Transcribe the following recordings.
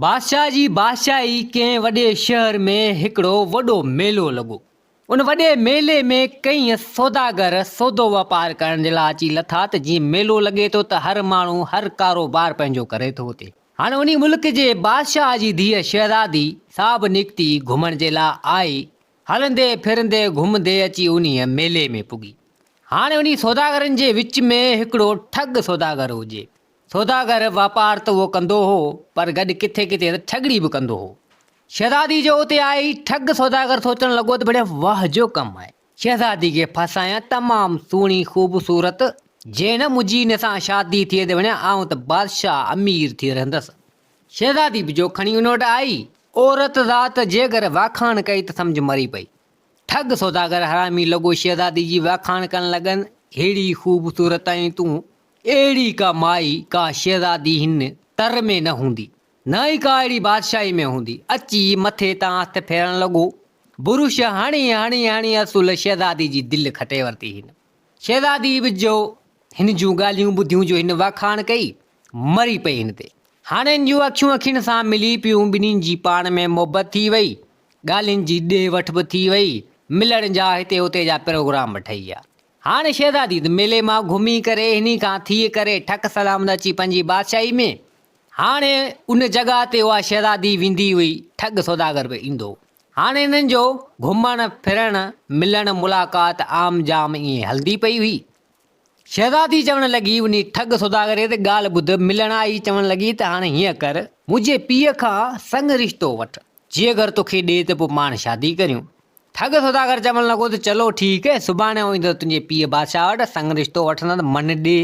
بادشاهه جي بادشاهي ڪنهن وڏي شهر ۾ هڪڙو وڏو ميلو لڳو. ان وڏي ميلي ۾ ڪيئي سوداگر سودو واپار ڪرڻ جي لاء اچي لٿا ته جيئن ميلو لڳي ٿو ته هر ماڻهو هر ڪاروبار پنهنجو ڪري ٿو اتي هاڻ انهي ملڪ جي بادشاهه جي ڌيء شهزادي سا به نڪتي گهمڻ جي لاء آئي هلندي ڦرندي گهمندي اچي انهي ميلي ۾ پڳي هاڻ انهي سوداگرن جي وچ ۾ هڪڙو ٺڳ سوداگر هجي سوداگر واپار ته اهو ڪندو هو پر گڏ ڪٿي ڪٿي ته ٺڳڙي به ڪندو هو. شهزادي جو اتي آئي ٺڳ سوداگر سوچڻ لڳو ته بڙي واه جو ڪم آهي. شهزادي کي ڦاسايان تمام سهڻي خوبصورت جينه منهنجي ان سان شادي ٿئي ته وڃان آئون ته بادشاهه امير ٿئي رهندس. شهزادي به جو کڻي ان وٽ آئي. عورت ذات جيڪر واکاڻ ڪئي ته سمجهه مري پئي. ٺڳ سوداگر حرامي لڳو شهزادي جي واکاڻ ڪرڻ لڳن ههڙي خوبصورت ۽ تون اهڙي ڪا مائي، ڪا شهزادي هن تر ۾ نه هوندي، نه ئي ڪا اهڙي بادشاهي ۾ هوندي. اچي مٿي تان هٿ ڦيرڻ لڳو. برش هڻي هڻي هڻي اصل شهزادي جي دل کٽي ورتي هن. شهزادي به جو هن جون ڳالهيون ٻڌيون، جو هن واکاڻ ڪئي، مري پئي هن تي. هاڻ هن جون اکيون اکين سان ملي پيون، ٻنهي جي پاڻ ۾ محبت ٿي وئي، ڳالهين جي ڏي وٺ به ٿي وئي، ملڻ جا هتي هتي جا پروگرام به ٺهي ويا. هاڻي شهزادي ته ميلي مان گهمي ڪري هني کان ٿي ڪري ٺڪ سلامت اچي پنهنجي بادشاهي ۾. هاڻي ان جڳهه تي اها شهزادي ويندي هئي، ٺڳ سوداگر به ايندو. هاڻي هنن جو گهمڻ ڦرڻ، ملڻ ملاقات عام جام ائين هلندي پئي هئي. شهزادي چوڻ لڳي، انهي ٺڳ سوداگر تي ڳالهه ٻڌ، ملڻ آئي چوڻ لڳي ته هاڻي هيئن ڪر، منهنجي پيء کان سڱ رشتو وٺ، جيڪر توکي ڏي ته پوء پاڻ شادي ڪريون. ٺڳ سوداگر چوڻ لڳو ته چلو ٺيڪ، سڀاڻي آئون ايندس تنهنجي پيء بادشاهه وٽ، سڱ رشتو وٺندس، من ڏي.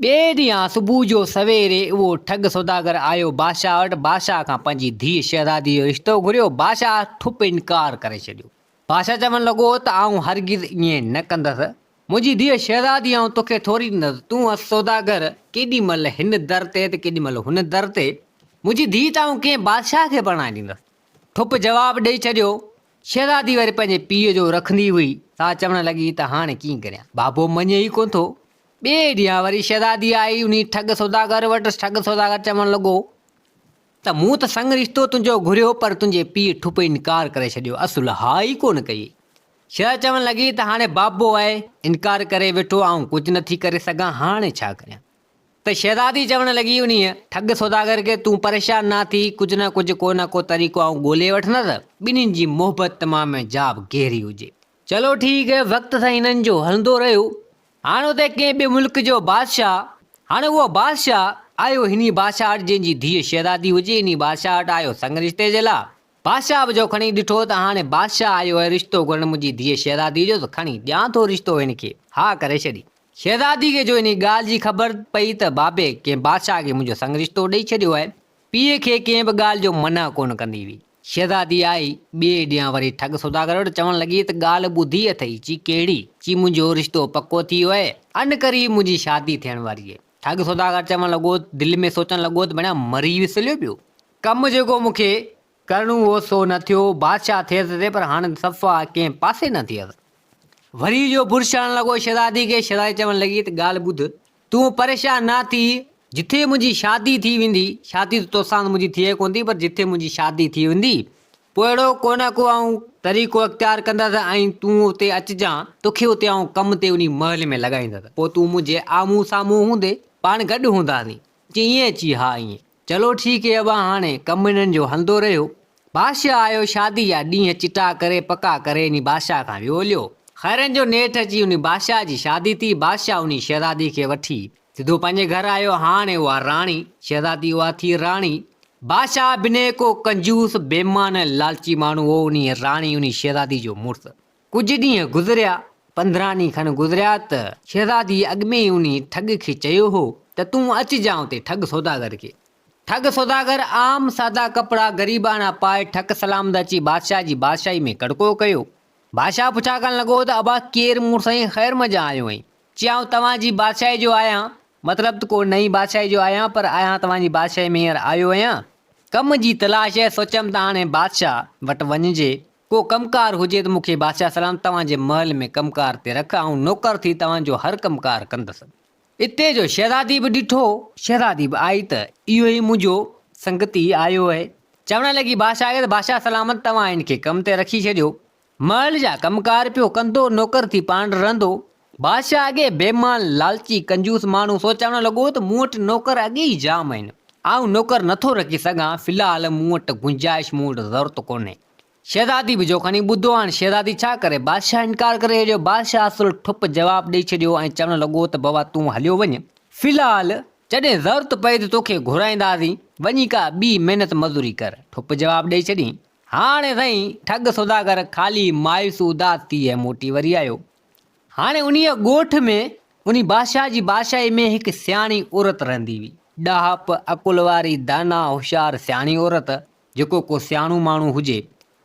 ٻئي ڏينهن صبح جو سويري اهو ٺڳ سوداگر آيو بادشاهه وٽ، بادشاهه کان پنهنجي ڌيء شهزاديء جو رشتو گهريو، بادشاهه ٺپ انڪار ڪري ڇڏيو. بادشاهه چوڻ لڳو ته آئون هرگز ائين نه ڪندس، منهنجي ڌيء شهزادي آئون توکي ٿوري ڏيندس، تون هئس سوداگر، ڪيڏي مهل هن در تي ته ڪيڏي مهل هن در تي، منهنجي ڌيء ته آئون ڪنهن بادشاهه کي پرڻائي ڏيندس. ٺپ جواب ڏئي ڇڏيو. شهزادي وري پنهنجي پيء جو رکندي هئي. سا چوڻ لڳي ته هاڻي ڪيئن ڪريان؟ بابو مڃي ئي ڪونه ٿو. ٻئي ڏينهن وري شهزادي آئي انهي ٺڳ سوداگر وٽس. ٺڳ سوداگر چوڻ لڳو ته مون ته سڱ رشتو تنهنجو گهريو پر تنهنجي پيء ٺپ انڪار ڪري ڇڏيو. اصل ها ئي ڪونه ڪئي. شهزادي چوڻ لڳي ته هاڻي بابو آهي. انڪار ڪري ويٺو. آئون ڪجهه نٿي ڪري سگهان. هاڻي ڇا ڪريان؟ ته شهزادي چوڻ لڳي انهيء ٺڳ سوداگر کي، تون پريشان نه ٿي، ڪجهه نه ڪجهه ڪو نه ڪو طريقو آئون ڳولهي وٺندس. ٻنهين جي محبت تمام جاب گهري هجي. چلو ٺيڪ هي. وقت سان هنن جو هلندو رهيو. هاڻ اتي ڪنهن ٻئي ملڪ جو بادشاهه، هاڻ اهو بادشاهه، آيو هني بادشاهه وٽ جنهن جي ڌيء شهزادي هجي، انهي بادشاهه وٽ آيو سڱ رشتي جي لاء. بادشاهه به جو کڻي ڏٺو ته هاڻي بادشاهه آيو آهي رشتو گهرڻ منهنجي ڌيء شهزاديء جو ته کڻي ڏيان ٿو رشتو هن کي. ها ڪري ڇڏي. شهزادي کي جو انهي ڳالهه جي خبر پئي ته بابي ڪنهن بادشاهه کي منهنجو سڱ رشتو ڏئي ڇڏيو آهي، پيء کي ڪنهن به ڳالهه جو منع ڪونه ڪندي هئي. شهزادي آئي، ٻئي ڏينهن وري ٺڳ سوداگر وٽ چوڻ لڳي ته ڳالهه ٻڌي اٿئي؟ چي ڪهڙي؟ چي منهنجو رشتو پڪو ٿي ويو آهي، ان قريب منهنجي شادي ٿيڻ واري آهي. ٺڳ سوداگر چوڻ لڳو، دل ۾ سوچڻ لڳو ته بڻيا مري وسليو پيو. ڪم جيڪو مون کي ڪرڻو هو سو نه ٿيو، بادشاهه ٿيس تي پر هاڻ صفا ڪنهن پاسي نه ٿيس. وري جو برشاڻ لڳو شهزادي کي، شهزادي چوڻ لڳي ته ڳالهه ٻڌ، تون پريشان نه ٿي، جٿي منهنجي شادي ٿي ويندي، شادي ته توسان ته منهنجي ٿئي ڪونه ٿي پر جٿي منهنجي شادي ٿي ويندي، پوء اهڙو ڪو نه ڪو آئون طريقو اختيار ڪندس ۽ تون اتي اچجان، توکي اتي آئون ڪم تي انهي محل ۾ لڳائيندس، پوء تون منهنجي آمهون سامهون هوندي، پاڻ گڏ هونداسين. چيئي اچي ها ائين. چلو ٺيڪ هي ابا هاڻي ڪم هنن جو هلندو رهيو. بادشاهه آيو شادي جا ڏينهن چٽا ڪري پڪا ڪري انهي بادشاهه کان ويو هليو. خيرن جو نيٺ اچي انهي بادشاهه جي شادي ٿي بادشاهه انهي شهزادي کي وٺي سڌو پنهنجي گهر آيو هاڻي اها راڻي شهزادي اها ٿي راڻي بادشاهه بنهه ڪو ڪنجوس بيمان ۽ لالچي ماڻهو هو انهي راڻي انهي شهزادي جو مڙس ڪجهه ڏينهن گذريا، پندرهن ڏينهن کن گذريا ته شهزاديء اڳ ۾ ئي انهيء ٺڳ کي چيو هو ته تون اچ جانء اتي ٺڳ سوداگر کي. ٺڳ سوداگر عام سادا ڪپڙا غريباڻا پائي ٺڪ سلامت اچي بادشاهه جي بادشاهي ۾ ڪڙڪو ڪيو. بادشاهه پڇا ڪرڻ لڳو ته ابا ڪير مون سائين خير منجهان آيو آهين؟ چي آئون توهان جي بادشاهي جو آهيان، مطلب ته ڪو نئين بادشاهي جو آهيان پر آهيان توهان جي بادشاهي ۾ هينئر آيو آهيان، ڪم جي تلاش هي، سوچيم ته هاڻي بادشاهه وٽ وڃجي ڪو ڪم ڪار هجي ته مون کي بادشاهه سلام توهان جي محل ۾ ڪم ڪار تي رک، آئون نوڪر ٿي توهان جو هر ڪم ڪار ڪندس. اتي جو شهزادي به ڏٺو. شهزادي به آئي ته اهو ئي منهنجو سنگتي آيو اهي. چوڻ لڳي بادشاهه کي ته بادشاهه سلامت توهان هن کي ڪم تي رکي ڇڏيو. محل جا ڪم ڪار پيو ڪندو، نوڪر ٿي پاڻ رهندو. بادشاهه اڳي بيمان، لالچي، ڪنجوس ماڻهو سو چوڻ لڳو ته مون وٽ نوڪر اڳي ئي جام آهن. آئون نوڪر نٿو رکي سگهان، في الحال مون وٽ گنجائش مون وٽ ضرورت ڪونهي. شهزادي به جو کڻي ٻڌو هاڻ شهزادي ڇا ڪري؟ بادشاهه انڪار ڪري هيڏيو. بادشاهه اصل ٺپ جواب ڏئي ڇڏيو ۽ چوڻ لڳو ته بابا تون هليو وڃ. في الحال جڏهن ضرورت پئي ته توکي گهرائينداسين. وڃي ڪا ٻي محنت مزوري ڪر. ٺپ جواب ڏئي ڇڏيئين. هاڻ سائين ٺڳ سوداگر خالي مايوس اداس ٿي ۽ موٽي وري آيو. هاڻ انهيء ڳوٺ ۾ انهي بادشاهه جي بادشاهي ۾ هڪ سياڻي عورت رهندي هئي. ڏاهپ، عقل واري، دانا، هوشيار، سياڻي عورت. جيڪو ڪو سياڻو ماڻهو هجي.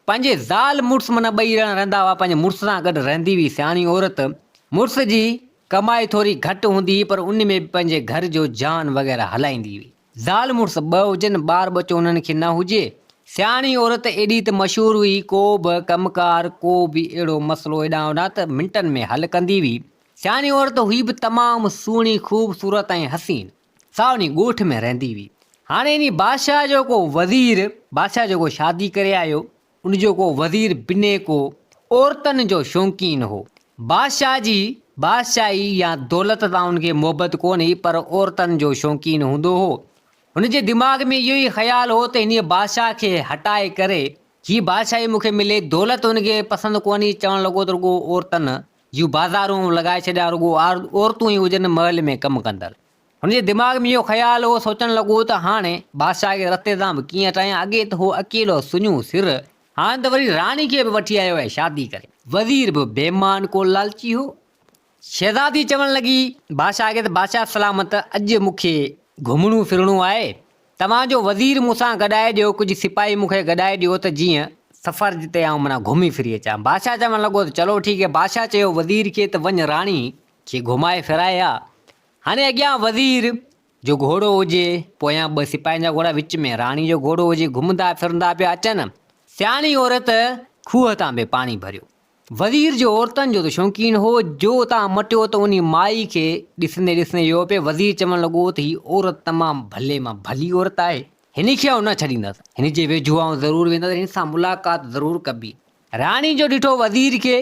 پنهنجي زال مڙس معنيٰ ٻئي ڄڻا رهندا هئا، پنهنجي مڙس سان گڏ رهندي هئي سياڻي عورت، مڙس جي ڪمائي ٿوري گهٽ هوندي هئي پر ان ۾ به پنهنجي گهر جو جان وغيره هلائيندي هئي. زال مڙس ٻه هجن، ٻار ٻچو انهن کي نه هجي، سياڻي عورت ايڏي ته مشهور هئي، ڪو به ڪم ڪار، ڪو به اهڙو مسئلو هيڏانهن هوڏانهن ته منٽن ۾ حل ڪندي هئي. سياڻي عورت هئي به تمام سهڻي، خوبصورت ۽ حسين. سا انهي ڳوٺ ۾ رهندي هئي. هاڻي انهي بادشاهه جو ڪو وزير، بادشاهه جيڪو شادي ڪري آيو، ان جو ڪو وزير بنهي ڪو عورتن جو شوقين هو. بادشاهه جي بادشاهي يا دولت تان ان کي محبت ڪونه هئي، پر عورتن جو شوقين هوندو هو. هن جي دماغ ۾ اهو ئي خيال هو ته انهي بادشاهه کي هٽائي ڪري هي بادشاهي مون کي ملي، دولت هن کي پسند ڪونه هئي، چوڻ لڳو ته رڳو عورتن جون بازارون لڳائي ڇڏيا رڳو عورتون ئي هجن محل ۾ ڪم ڪندڙ. هن جي دماغ ۾ اهو خيال هو سوچڻ لڳو ته هاڻي بادشاهه کي رستي تان به ڪيئن هٽايان اڳي ته هو اڪيلو سڃو سر هاڻي ته وري راڻي کي به وٺي آيو آهي شادي ڪري. وزير به بي مان ڪو لالچي هو. شهزادي چوڻ لڳي بادشاهه کي ته بادشاهه سلامت اڄ مون کي گهمڻو ڦرڻو آهي توهان جو وزير مون سان گڏائي ڏيو، ڪجهه سپاهي مون کي گڏائي ڏيو ته جيئن سفر جتي آئون منا گهمي ڦري اچان. بادشاهه چوڻ لڳو ته چلو ٺيڪ هي. بادشاهه چيو وزير کي ته وڃ راڻي کي گهمائي ڦرائي آ. هاڻي اڳيان وزير جو گهوڙو هجي، پويان ٻه سپاهين جا گهوڙا وچ ۾ راڻي جو گهوڙو هجي، گهمندا ڦرندا پيا اچن. سياڻي عورت کوهه تان به پاڻي ڀريو. وزير جو عورتن جو ته شوقين هو، جو اتان مٽيو ته انهي مائي کي ڏسندي ڏسندي ويو پئي، وزير چوڻ لڳو ته هي عورت تمام ڀلي مان ڀلي عورت آهي، هن کي آئون نه ڇڏيندس، هن جي ويجهو آئون ضرور ويندس، هن سان ملاقات ضرور ڪبي. راڻي جو ڏٺو وزير کي،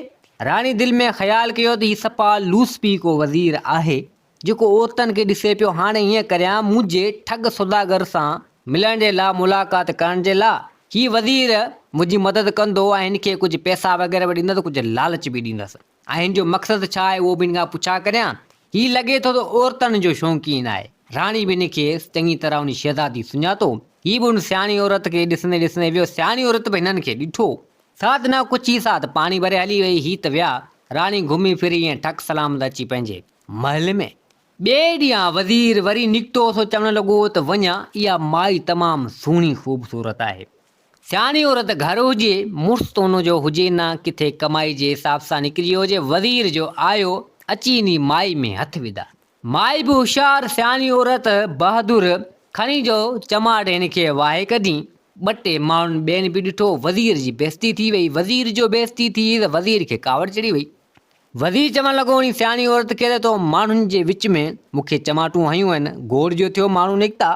راڻي دل ۾ خيال ڪيو ته هي صفا لوسپي ڪو وزير آهي، جيڪو عورتن کي ڏسي پيو هاڻي هيئن ڪريان منهنجي ٺڳ سوداگر سان ملڻ جي لا ملاقات ڪرڻ جي لا هي وزير منهنجي مدد ڪندو ۽ هن کي ڪجهه پئسا وغيره به ڏيندس ڪجهه لالچ به ڏيندس ۽ هن جو مقصد ڇا آهي اهو به هن کان پڇا ڪريان هي لڳي ٿو ته عورتن جو شونقين آهي راڻي به هن کي چڱي طرح هن شهزادي سڃاتو هي به هن سياڻي عورت کي ڏسندي ڏسندي ويو سياڻي عورت به هنن کي ڏٺو ساڌنا ڪچي ساڌ پاڻي ڀري هلي وئي هي ته ويا راڻي گهمي ڦري ائين ٺڪ سلامت اچي پنهنجي. محل ۾. ٻئي ڏينهن وزير وري نڪتو سو چوڻ لڳو ته وڃان اها مائي تمام سهڻي خوبصورت آهي. سياڻي عورت گهر هجي، مڙس تون جو هجي نه ڪٿي ڪمائي جي حساب سان نڪري هجي، وزير جو آيو، اچي انهي مائي ۾ هٿ وڌا. مائي به هوشيار سياڻي عورت بهادر، کڻي جو چماٽ هن کي واهي ڪڍين. ٻه ٽي ماڻهن ٻين به ڏٺو، وزير جي بيعزتي ٿي وئي، وزير جو بيعزتي ٿي ته وزير کي ڪاوڙ چڙهي وئي. وزير چوڻ لڳو، اڻي سياڻي عورت کي ته تو ماڻهن جي وچ ۾ مون کي چماٽون هنيون آهن، گوڙ جو ٿيو ماڻهو نڪتا.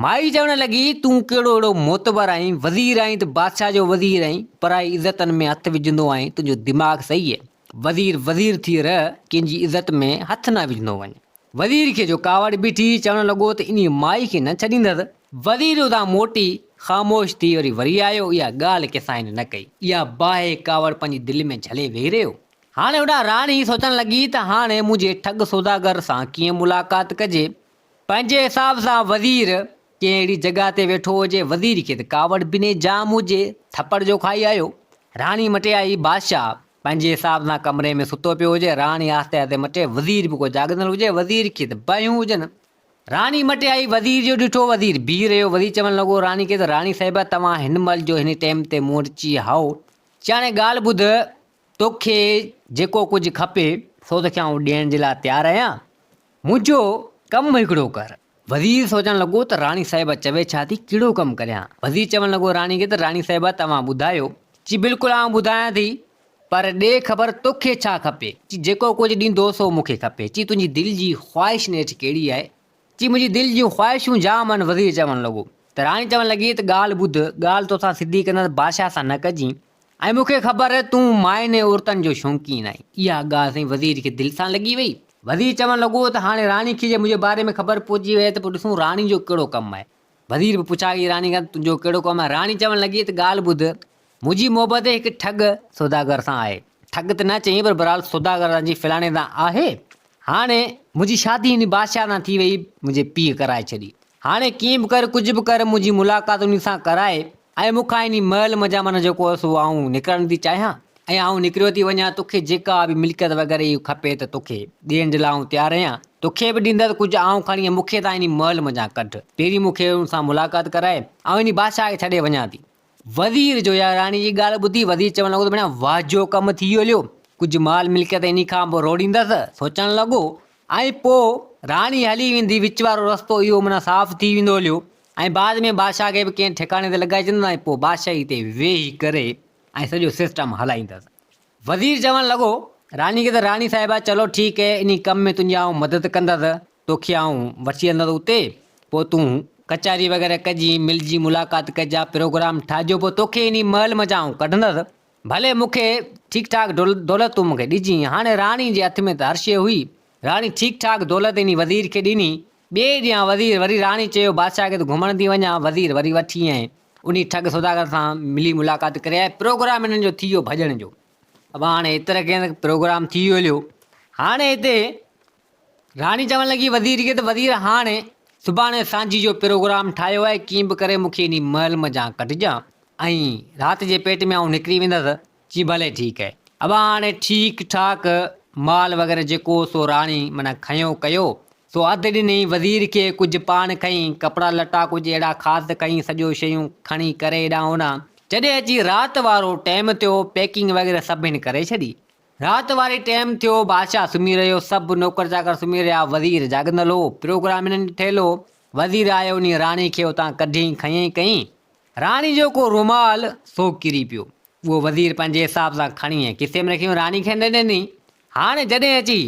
مائي چوڻ لڳي، تون ڪهڙو اهڙو معتبر آهين، وزير آهين ته بادشاهه جو وزير آهين، پرائي عزتن ۾ هٿ وجهندو آهين، تنهنجو دماغ صحيح هي، وزير وزير ٿي رهه، ڪنهن جي عزت ۾ هٿ نه وجهندو وڃ. وزير کي جو ڪاوڙ بيٺي، چوڻ لڳو ته انهيء مائي کي نه ڇڏيندس. وزير ادان موٽي، خاموش ٿي وري وري آيو. اها ڳالهه ڪسائين نه ڪئي. اها باهه ڪاوڙ پنهنجي دل ۾ جهلي ويهي رهيو. هاڻي اڏا راڻي سوچڻ لڳي ته هاڻي منهنجي ٺڳ سوداگر سان ڪيئن ملاقات ڪجي. پنهنجي حساب سان وزير ڪنهن اهڙي جڳهه تي ويٺو هجي. وزير کي ته ڪاوڙ بنهه جام هجي. ٿپڙ جو کائي آيو. راڻي مٽيائي، بادشاهه! پنهنجي حساب سان ڪمري ۾ ستو پيو هجي، راڻي آهستي آهستي مٽي، وزير به ڪو جاڳندڙ هجي، وزير کي ته باهيون هجن. راڻي مٽي آئي، وزير جو ڏٺو، وزير بيهي رهيو، وزير چوڻ لڳو راڻي کي ته راڻي صاحبه توهان هن مهل جو هن ٽيم تي مون وٽ چي هائو، چي هاڻي ڳالهه ٻڌ، توکي جيڪو ڪجهه کپي، سو توکي آئون ڏيڻ جي لاء تيار آهيان. منهنجو ڪم هڪڙو ڪر. وزير سوچڻ لڳو ته راڻي صاحبه چوي ڇا ٿي، ڪهڙو ڪم ڪريان. وزير چوڻ لڳو راڻي کي ته راڻي صاحبه توهان ٻڌايو. چي بلڪل آئون ٻڌايان ٿي. پر ڏي خبر توکي ڇا کپي. چي جيڪو ڪجهه ڏيندو سو مون کي کپي. چي تنهنجي دل جي خواهش نيٺ ڪهڙي آهي. چي منهنجي دل جون خواهشون جام آهن وزير چوڻ لڳو ته راڻي چوڻ لڳي ته ڳالهه ٻڌ ڳالهه توسان سڌي ڪندس بادشاهه سان نه ڪجين. ۽ مون کي خبر آهي تون ماين ۽ عورتن جو شونقين آهين. اها ڳالهه سائين وزير کي دل سان لڳي وئي. وزير چوڻ لڳو ته هاڻي راڻي کي جي منهنجي باري ۾ خبر پهچي وئي ته پوء ڏسون راڻي جو ڪهڙو ڪم آهي. وزير به پڇاڳئي راڻي کان ته تنهنجو ڪهڙو ڪم آهي. راڻي چوڻ لڳي ته ڳالهه ٻڌ، منهنجي محبت هڪ ٺڳ سوداگر سان آهي. ٺڳ ته نه چئين پر بهرحال سوداگر سان جي فلاڻي سان آهي. هاڻي منهنجي شادي انهي بادشاهه سان ٿي وئي، منهنجي پيء ڪرائي ڇڏي. هاڻي ڪيئن به ڪر، ڪجهه به ڪر منهنجي ملاقات انهي سان ڪرائي. ۽ مون کان انهي محل منجهان معنيٰ جيڪو هو سو آئون نڪرڻ ٿي چاهيان ۽ آئون نڪريو ٿي وڃان تو کي جيڪا به ملڪيت وغيره هي کپي ته تو کي ڏيڻ جي لاء آئون تيار آهيان تو کي به ڏيندس ڪجهه آئون کڻي مون کي تان انهي محل منجهان ڪڍ پهرين مون کي ان سان ملاقات ڪرائي آئون انهي بادشاهه کي ڇڏي وڃان ٿي. وزير جو يا راڻي جي ڳالهه ٻڌي وزير چوڻ لڳو ته ڀيڻا واهه جو ڪم ٿي هليو ڪجهه مال ملڪيت انهي کان به روڙيندس سوچڻ لڳو ۽ پوء راڻي هلي ويندي وچ وارو رستو اهو معنيٰ صاف ٿي ويندو هليو ۽ بعد ۾ بادشاهه کي به ڪنهن ٺڪاڻي تي لڳائي ڇڏيندس ۽ پوء بادشاهي تي ويهي ڪري ۽ سڄو سسٽم هلائيندس. وزير چوڻ لڳو راڻي کي ته راڻي صاحبه چلو ٺيڪ هي انهي ڪم ۾ تنهنجي آئون مدد ڪندس توکي آئون وٺي هلندس اتي پوء تون ڪچهري وغيره ڪجين ملجين ملاقات ڪجان پروگرام ٺاهجو پوء توکي انهي محل منجهان آئون ڪڍندس ڀلي مون کي ٺيڪ ٺاڪ دولت تون مون کي ڏجين هاڻي راڻي جي هٿ ۾ ته هر شيء هئي راڻي ٺيڪ ٺاڪ دولت انهي وزير کي ڏني ٻئي ڏينهن وزير وري راڻي چيو بادشاهه کي ته گهمڻ ٿي وڃان، وزير وري وٺي ۽ انهي ٺڳ سوداگر سان ملي ملاقات ڪري آيو، پروگرام انهن جو ٿي ويو ڀڄڻ جو، ابا هاڻي ات رکين ته پروگرام ٿي ويو هليو، هاڻي هتي راڻي چوڻ لڳي وزير کي ته وزير هاڻي سڀاڻي سانجهي جو پروگرام ٺاهيو آهي، ڪيئن به ڪري مون کي انهي محل منجهان ڪڍجان ۽ رات جي پيٽ ۾ آئون نڪري ويندس، چي ڀلي ٺيڪ اهي ابا هاڻي ٺيڪ ٺاڪ مال وغيره جيڪو هو سو راڻي معنيٰ کنيو ڪيو سو اڌ ڏني وزير کي ڪجهه پاڻ کنئي ڪپڙا لٽا ڪجهه اهڙا خاص کنئي سڄو شيون کڻي ڪري هيڏانهن هوڏانهن جڏهن اچي رات وارو ٽيم ٿيو پيڪنگ وغيره سڀ هن ڪري ڇڏي رات واري ٽيم ٿيو بادشاهه سمهي رهيو سڀ نوڪر چاڪر سمهي رهيا وزير جاڳندل هو پروگرام هنن ٺهيل هو وزير آيو انهي راڻي کي اتان ڪڍيئي کنيئي ڪئي راڻي جو ڪو رومال سو ڪري پيو اهو وزير پنهنجي حساب سان کڻي ۽ کيسي ۾ رکي ان راڻي کي نه ڏني. هاڻي جڏهن اچي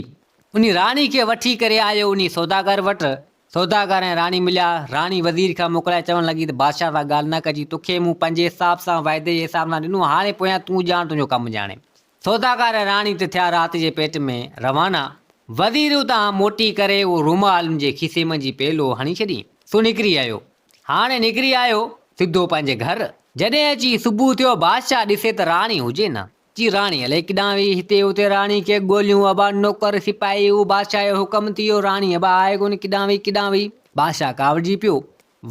ان راڻي کي وٺي ڪري آيو انهي سوداگر وٽ، سوداگر ۽ راڻي مليا، راڻي وزير کي موڪلائي چوڻ لڳي ته بادشاهه سان ڳالهه نه ڪجي، توکي مون پنهنجي حساب سان وعدي جي حساب سان ڏنو، هاڻي پويان تون ڄاڻ تنهنجو ڪم ڄاڻي. سوداگر ۽ راڻي ته ٿيا رات جي پيٽ ۾ روانا، وزير اتان موٽي ڪري اهو رومال ان جي کيسي منجهي پيلو هڻي ڇڏي سو نڪري آيو، هاڻي نڪري آيو سڌو پنهنجي گهر. جڏهن اچي صبح ٿيو بادشاهه ڏسي ته راڻي هجي نه. چي راڻي الائي ڪيڏانهن وئي هتي هتي راڻي کي ڳوليون ابا نوڪر سپاهي هو بادشاهه جو حڪم ٿي ويو راڻي ابا آهي ڪونه ڪيڏانهن وئي ڪيڏانهن وئي بادشاهه ڪاوڙجي پيو.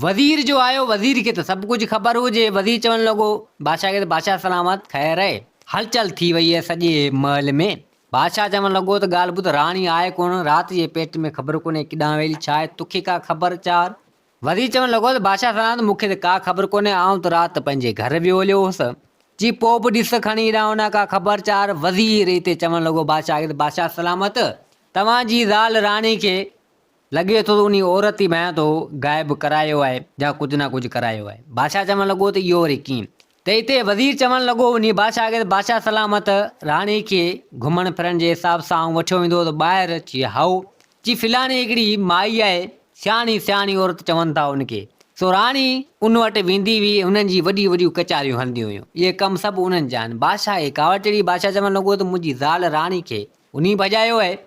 وزير جو آيو وزير کي ته سڀ ڪجهه خبر هجي وزير چوڻ لڳو بادشاهه کي ته بادشاهه سلامت خير اهي هلچل ٿي وئي اهي سڄي محل ۾ بادشاهه چوڻ لڳو ته ڳالهه ٻڌ، راڻي آهي ڪونه، رات جي پيٽ ۾ خبر ڪونهي ڪيڏانهن ويل، ڇا آهي تو کي ڪا خبر؟ چار. وزير چوڻ لڳو ته بادشاهه سلامت، مون کي ته ڪا خبر ڪونهي، آئون ته رات پنهنجي گهر ويهو هليو هوس، جي پوء به ڏس ته کڻي هيڏانهن هوڏانهن ڪا خبر؟ چار. وزير اتي چوڻ لڳو بادشاهه کي ته بادشاهه سلامت، توهان جي زال راڻي کي لڳي ٿو ته انهي عورت ئي ڀيان تو غائب ڪرايو آهي يا ڪجهه نه ڪجهه ڪرايو آهي. بادشاهه چوڻ لڳو ته اهو وري ڪيئن؟ ته اتي وزير چوڻ لڳو انهي بادشاهه کي ته بادشاهه سلامت راڻي کي گهمڻ ڦرڻ جي حساب سان آئون وٺيو ويندو هو ته ٻاهر چي هائو جي فلاڻي هڪڙي مائي آهي سياڻي سياڻي عورت چون ٿا ان کي سو راڻي ان وٽ ويندي هئي ۽ انهن جي وڏيون وڏيون ڪچهريون هلنديون هيون اهي ڪم سڀ انهن جا آهن بادشاهه کي ڪاوڙ چڙهي بادشاهه چوڻ لڳو ته منهنجي زال راڻي کي انهي ڀڄايو آهي.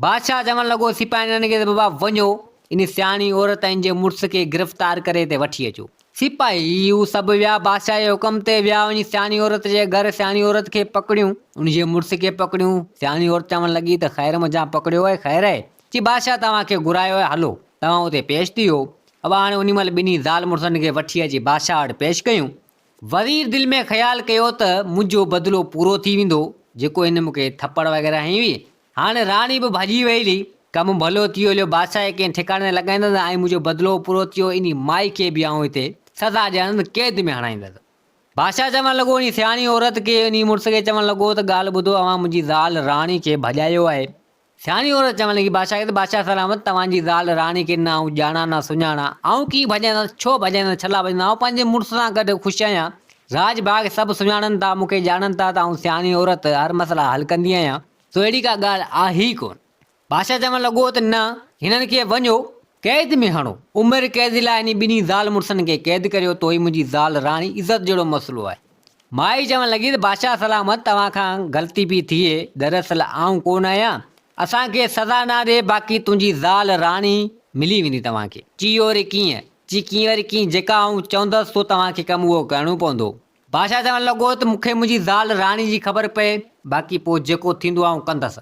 بادشاهه چوڻ لڳو، سپاهينن کي ته بابا وڃو، ان سياڻي عورت ۽ ان جي مڙس کي گرفتار ڪري هتي وٺي اچو. سپاهي هو سڀ ويا، بادشاهه جي حڪم تي ويا وڃي سياڻي عورت جي گهر سياڻي عورت کي پڪڙيون، ان جي مڙس کي پڪڙيون، سياڻي عورت چوڻ لڳي ته خير منجهان پڪڙيو آهي، خير آهي؟ چي بادشاهه توهان کي گهرايو آهي، هلو، توهان اتي پيش ٿيو. ابا هاڻي انهي مهل ٻنهي زال مڙسن کي وٺي اچي بادشاهه وٽ پيش ڪيون. وزير دل ۾ خيال ڪيو ته منهنجو بدلو پورو ٿي ويندو، جيڪو هن مون کي ٿپڙ وغيره هنئي هئي، هاڻي راڻي به ڀڄي وئي هلي. ڪم ڀلو ٿيو هليو بادشاهه کي ڪنهن ٺڪاڻي نه لڳائيندس ۽ منهنجو بدلو پورو ٿيو انهي مائي کي به آئون هتي سزا ڏيڻ قيد ۾ هڻائيندس. بادشاهه چوڻ لڳو انهي سياڻي عورت کي انهي مڙس کي چوڻ لڳو ته ڳالهه ٻڌو اوهان منهنجي زال راڻي کي ڀڄايو آهي. سياڻي عورت چوڻ لڳي بادشاهه کي ته بادشاهه سلامت توهان جي زال راڻي کي نه آئون ڄاڻان نه سڃاڻان آئون ڪيئن ڀڄائيندس ڇو ڀڄائيندس ڇلا ڀڄائيندس آئون پنهنجي مڙس سان گڏ خوش آهيان راڄ ڀاڳ سڀ سڃاڻن ٿا مون کي ڄاڻن ٿا ته آئون سياڻي عورت هر مسئلا حل ڪندي آهيان. سو اهڙي ڪا ڳالهه آهي ئي ڪونه. بادشاهه چوڻ لڳو ته نه، هنن کي وڃو، قيد ۾ هڻو. عمر قيد لاء انهي ٻنهي زال مڙسن کي قيد ڪريو، تو هي منهنجي زال راڻي عزت جهڙو مسئلو آهي. مائي چوڻ لڳي ته بادشاهه سلامت، توهان کان غلطي پي ٿئي، دراصل آئون ڪونه آهيان، اسان کي سزا نه ڏي، باقي تنهنجي زال راڻي ملي ويندي توهان کي. چيو وري ڪيئن؟ چي ڪيئن وري ڪيئن، جيڪا آئون چوندس سو توهان کي ڪم اهو ڪرڻو پوندو. بادشاهه چوڻ لڳو ته مون کي منهنجي زال راڻي جي خبر پئي، باقي پوء جيڪو ٿيندو آئون ڪندس.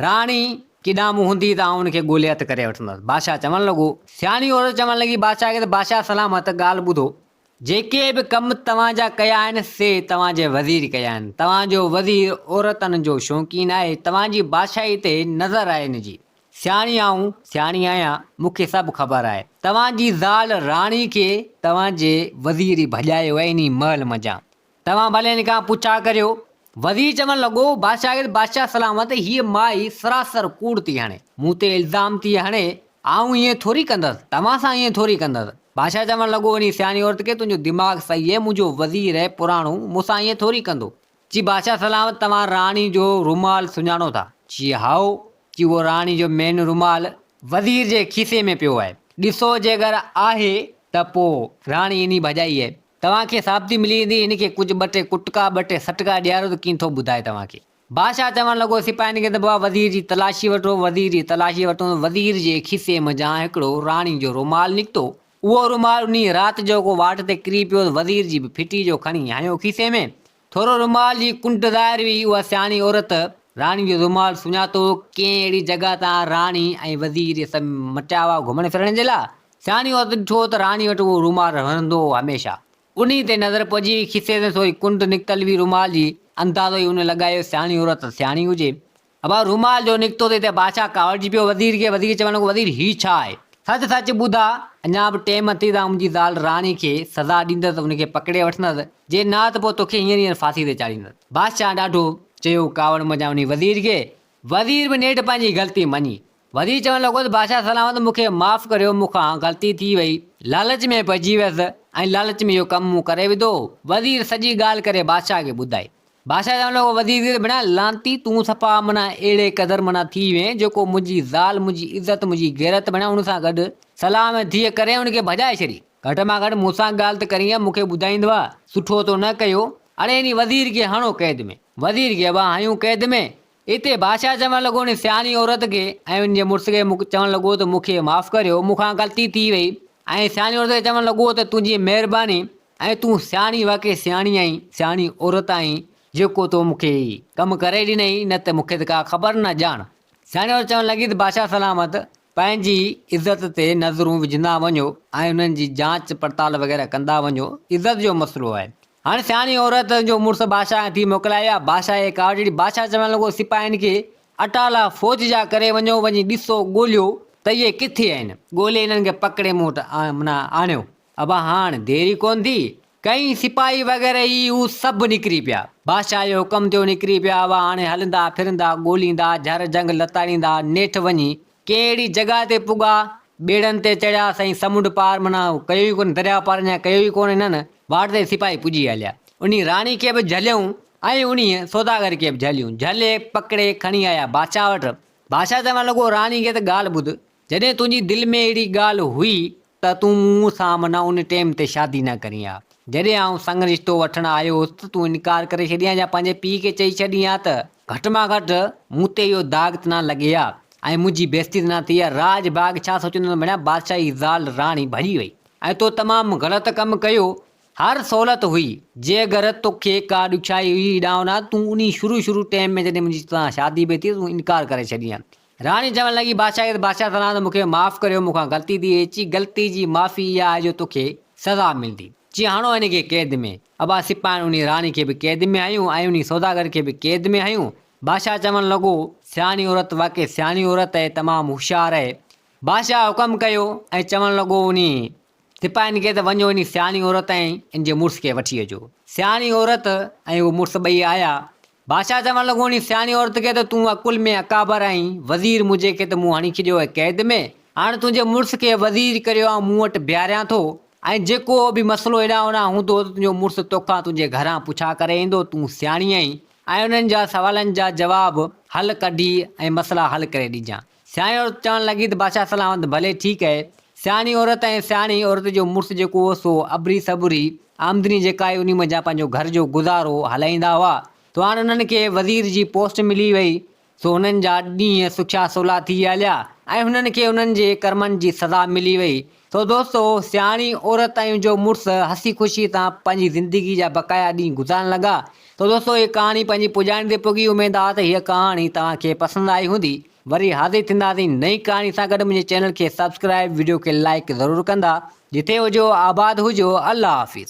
راڻي ڪيڏانهن به هوندي ته آئون ان کي ڳولي هٿ ڪري وٺندس. بادشاهه چوڻ لڳو. سياڻي عورت چوڻ لڳي بادشاهه کي ته بادشاهه سلامت ڳالهه ٻڌو، جيڪي به ڪم توهان جا ڪيا آهن سي توهان جي وزير ڪيا آهن. توهان جو وزير عورتن جو شوقين آهي، توهان جي بادشاهي تي نظر آهي ان جي. سياڻي آئون سياڻي آهيان، مون کي سڀ خبر آهي. توهان جي زال راڻي کي توهان جي وزير ئي ڀڄايو آهي انهي محل منجهان. توهان ڀلي هن کان پڇا ڪريو. وزير چوڻ لڳو، باشاگرد بادشاهه سلامت، هيء مائي سراسر ڪوڙ ٿي هڻي. مون تي الزام ٿي هڻي. آئون ائين ٿوري ڪندس. توهان سان ائين ٿوري ڪندس. بادشاهه چوڻ لڳو، انهي سياڻي عورت کي تنهنجو دماغ صحيح آهي، منهنجو وزير آهي پراڻو، مون سان ائين ٿوري ڪندو. چي بادشاهه سلام توهان راڻي جو رومال سڃاڻو ٿا؟ چي هائو. چي اهو راڻي جو مين رومال وزير جي کيسي ۾ پيو آهي. ڏسو جيڪر آهي ته پوء راڻي انهي ڀڄائي آهي. توهان کي ثابتي ملي ويندي هن کي ڪجهه ٻه ٽي ڪٽڪا ٻه ٽي سٽڪا ڏياريو ته ڪين ٿو ٻڌائي توهان کي. بادشاهه چوڻ لڳو سپاهين کي ته بابا وزير جي تلاشي وٺو. وزير جي تلاشي ورتون ته وزير جي کيسي منجهان هڪڙو راڻي جو رومال نڪتو اهو رومال انهيء رات جو ڪو واٽ تي ڪري پيو ته وزير جي به ڦٽي جو کڻي هنيو کيسي ۾، ٿورو رومال جي ڪنڊ ظاهر هئي، اها سياڻي عورت راڻي جو رومال سڃاتو هو، ڪنهن اهڙي جڳهه تان راڻي ۽ وزير اهي سڀ مٽيا هئا گهمڻ ڦرڻ جي لاء، سياڻي عورت ڏٺو ته راڻي وٽ اهو رومال رهندو هو هميشه، انهيء تي نظر پئجي وئي، کيسي تان ٿوري ڪنڊ نڪتل هئي رومال جي، اندازو ئي هن لڳايو سياڻي عورت سياڻي هجي، ابا رومال جو نڪتو تي ته بادشاهه ڪاوڙجي پيو وزير کي وزير چوڻ لڳو وزير هي ڇا آهي. سچ سچ ٻڌاء اڃا به ٽيم اٿئي ته آئون منهنجي زال راڻي کي سزا ڏيندس ان کي پڪڙي وٺندس جي نه ته پوء توکي هينئر هينئر ڦاسي تي چاڙهيندس بادشاهه ڏاڍو چيو ڪاوڙ منجهان وڃي وزير کي وزير به نيٺ پنهنجي غلطي مڃي وزير چوڻ لڳو ته بادشاهه سلامت مون کي معاف ڪريو مون کان غلطي ٿي وئي لالچ ۾ پئجي ويس ۽ لالچ ۾ اهو ڪم مون ڪري وڌو وزير سڄي ڳالهه ڪري بادشاهه کي ٻڌائي بادشاهه چون لڳو وزير زير ڀيڻا لعنتي تون صفا معنيٰ اهڙي قدر معنيٰ ٿي وئين جو ڪو منهنجي زال منهنجي عزت منهنجي غيرت ڀيڻا ان سان گڏ صلاح ۾ ڌيء ڪرين ان کي ڀڄائي ڇڏي گهٽ مان گهٽ مون سان ڳالهه ته ڪرينء مون کي ٻڌائيندو ها سٺو تو نه ڪيو اڙي انهي وزير کي هڻو قيد ۾ وزير کي ابا هنيون قيد ۾ اتي بادشاهه چوڻ لڳو ان سياڻي عورت کي ۽ ان جي مڙس کي چوڻ لڳو ته مون کي معاف ڪريو، مون کان غلطي ٿي وئي ۽ سياڻي عورت کي چوڻ لڳو ته تنهنجي مهرباني ۽ تون سياڻي واقعي سياڻي آهين، سياڻي عورت آهين جيڪو تو مون کي هي ڪم ڪري ڏنئي نه ته مون کي ته ڪا خبر نه ڄاڻ. سياڻي عورت چوڻ لڳي ته بادشاهه سلامت پنهنجي عزت تي نظرون وجهندا وڃو ۽ انهن جي جانچ پڙتال وغيره ڪندا وڃو عزت جو مسئلو آهي هاڻ سياڻي عورت جو مڙس بادشاهه کان ٿي موڪل آئي آ بادشاهه جي ڪارڊ ڏي بادشاهه چوڻ لڳو سپاهين کي اٽالا فوج جا ڪري وڃو وڃي ڏسو ڳوليو ته اهي ڪٿي آهن ڳولي انهن کي پڪڙي مون وٽ آڻيو ابا هاڻ ديري ڪونه ٿي ڪئين، سپاهي وغيره هي هو سڀ نڪري پيا، بادشاهه جي حڪم ٿيو نڪري پيا، ابا هاڻي هلندا ڦرندا ڳوليندا جهر جهنگ لتاڙيندا نيٺ وڃي ڪنهن اهڙي جڳهه تي پڳا، ٻيڙن تي چڙهيا سائين سمنڊ پار معنيٰ ڪيو ئي ڪونه درياء پار اڃا ڪيو ئي ڪونه هنن، واٽ تي سپاهي پڄي هليا، انهي راڻي کي به جهليائون ۽ انهي سوداگر کي به جهليون، جهلي پڪڙي کڻي آيا بادشاهه وٽ، بادشاهه چوڻ لڳو راڻي کي ته ڳالهه ٻڌ جڏهن تنهنجي دل ۾ اهڙي ڳالهه هئي ته تون مون سان منهن ان ٽيم تي شادي نه ڪرين ها. جڏهن آئون سڱ رشتو وٺڻ آيو هوس ته تون انڪار ڪري ڇڏين ها يا پنهنجي پيء کي چئي ڇڏين ها ته گهٽ مان گهٽ مون تي اهو داغ ته نه لڳي ها ۽ منهنجي بيزتي ته نه ٿئي ها. راڄ ڀاڳ ڇا سوچيندو ته مڙيا بادشاهه جي زال راڻي ڀڄي وئي ۽ تو تمام غلط ڪم ڪيو. هر سهولت هئي. جي اگر توکي ڪا ڏکيائي هئي ڏانهن ڏانهن تون انهي شروع شروع ٽيم ۾ جڏهن منهنجي توسان شادي به ٿي ته تون انڪار ڪري ڇڏين ها راڻي چوڻ لڳي، بادشاهه کي ته بادشاهه سڏان ته مون کي معاف ڪريو، مون کان غلطي ٿي وئي. چي، غلطي جي معافي اها آهي جو تو کي سزا ملندي. چي، هڻو هن کي قيد ۾. ابا سپاهين انهي راڻي کي به قيد ۾ هنيو ۽ انهي سوداگر کي به قيد ۾ هنيو. بادشاهه چوڻ لڳو، سياڻي عورت واقعي سياڻي عورت اهي، تمام هوشيار اهي. بادشاهه حڪم ڪيو ۽ چوڻ لڳو انهي سپاهين کي ته وڃو انهي سياڻي عورت ۽ ان جي مڙس کي وٺي اچو. سياڻي عورت ۽ اهو مڙس ٻئي آيا بادشاهه چوڻ لڳو، انهي سياڻي عورت کي ته تون عقل ۾ اڪابر آهين، وزير منهنجي کي ته مون هڻي ڇڏيو آهي قيد ۾، هاڻ تنهنجي مڙس کي وزير ڪري آئون مون وٽ بيهاريان ٿو ۽ جيڪو به مسئلو هيڏانهن هوڏانهن هوندو ته تنهنجو مڙس توکان تنهنجي گهران پڇا ڪري ايندو، تون سياڻي آهين ۽ انهن جا سوالن جا جواب حل ڪڍي ۽ مسئلا حل ڪري ڏجان. سياڻي عورت چوڻ لڳي ته بادشاهه سلامت ڀلي ٺيڪ اهي سياڻي عورت ۽ سياڻي عورت جو مڙس جيڪو هو سو ابري سٻري آمدني جيڪا هئي انهي منجهان پنهنجو گهر جو گذارو هلائيندا هئا سو هاڻ انهن کي وزير جي پوسٽ ملي وئي سو هنن جا ڏينهن سکيا سولا ٿي هليا ۽ هنن کي انهن جي ڪرمن جي سزا ملي وئي. سو دوستو، سياڻي عورت ۽ جو مڙس هسي خوشي سان پنهنجي زندگي جا بقايا ڏينهن گذارڻ لڳا. سو دوستو، هيء ڪهاڻي پنهنجي پڄاڻي تي پڳي. اميد آهي ته هيء ڪهاڻي توهان کي پسند آئي هوندي. وري حاضر ٿينداسين نئين ڪهاڻي سان گڏ. منهنجي چينل کي سبسڪرائيب، وڊيو کي لائيڪ ضرور ڪندا. جتي هجو آباد هجو. الله حافظ.